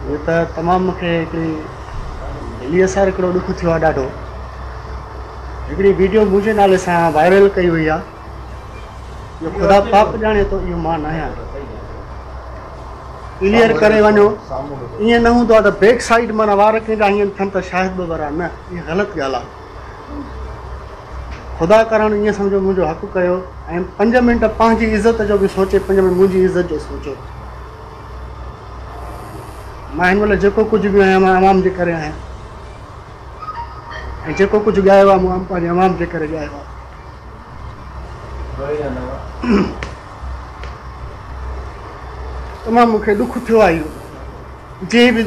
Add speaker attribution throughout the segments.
Speaker 1: هي ته تمام مون کي هڪڙي دليء سان هڪڙو ڏک ٿيو آهي ڏاڍو. هڪڙي ويڊيو منهنجي نالي سان وائرل ڪئي وئي آهي. جو خدا پاڪ ڄاڻي ٿو اهو مان ناهيان. ڪليئر ڪري وڃو. ائين نه هوندو آهي ته بيڪ سائيڊ معنيٰ وار ڪنهن جا هيئن ٿين ته شاهد ٻه ورا نه اهي غلط ڳالهه آهي. خدا ڪرڻ ائين سمجهو منهنجو حق ڪيو ۽ پنج منٽ پنهنجي عزت جو به سوچي پنج منٽ منهنجي عزت جو سوچو. مان هن مهل جيڪو ڪجهه به آهيان مان عوام جي ڪري آهيان ۽ جيڪو ڪجهه ڳايو آهي مان پنهنجي عوام جي ڪري ڳايو آهي تمام مون کي ڏک ٿيو آهي اهو جنهن به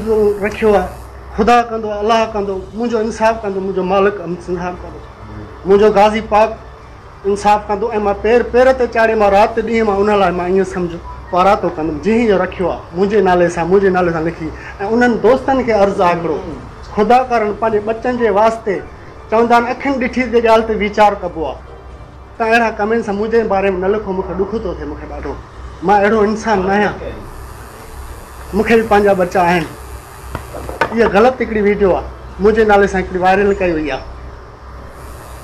Speaker 1: رکيو آهي خدا ڪندو الله ڪندو منهنجو انصاف ڪندو منهنجو مالڪ سنڌار ڪندو منهنجو غازي پاڪ انصاف ڪندو ۽ مان پير پير تي چاڙهي مان رات ڏينهن مان ان لاء مان ائين سمجهه پاراتو ڪندم جنهن اهو رکيو آهي منهنجي نالي سان منهنجي نالي سان لکي ۽ انهن دوستن کي عرض آهي هڪڙو خدا ڪارڻ پنهنجي ٻچن جي واسطي چوندا آهن اکين ڏٺي جي ڳالهه تي ويچار ڪبو آهي ته اهڙا ڪمينس منهنجي باري ۾ نه لکو مون کي ڏک ٿو ٿئي مون کي ڏاڍو مان اهڙو انسان نه آهيان مون کي به پنهنجا ٻچا آهن اها غلط هڪڙي ويڊيو آهي منهنجي نالي سان هڪڙي وائرل ڪئي وئي آهي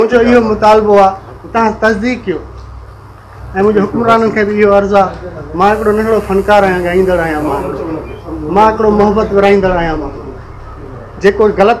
Speaker 1: منهنجو اهو مطالبو آ توهان تصديق ڪيو ۽ منهنجي حڪمرانن کي به اهو عرض آ مان هڪڙو ننڍڙو فنڪار آهيان ڳائيندڙ آهيان مان هڪڙو محبت ورهائيندڙ آهيان مان جيڪو غلط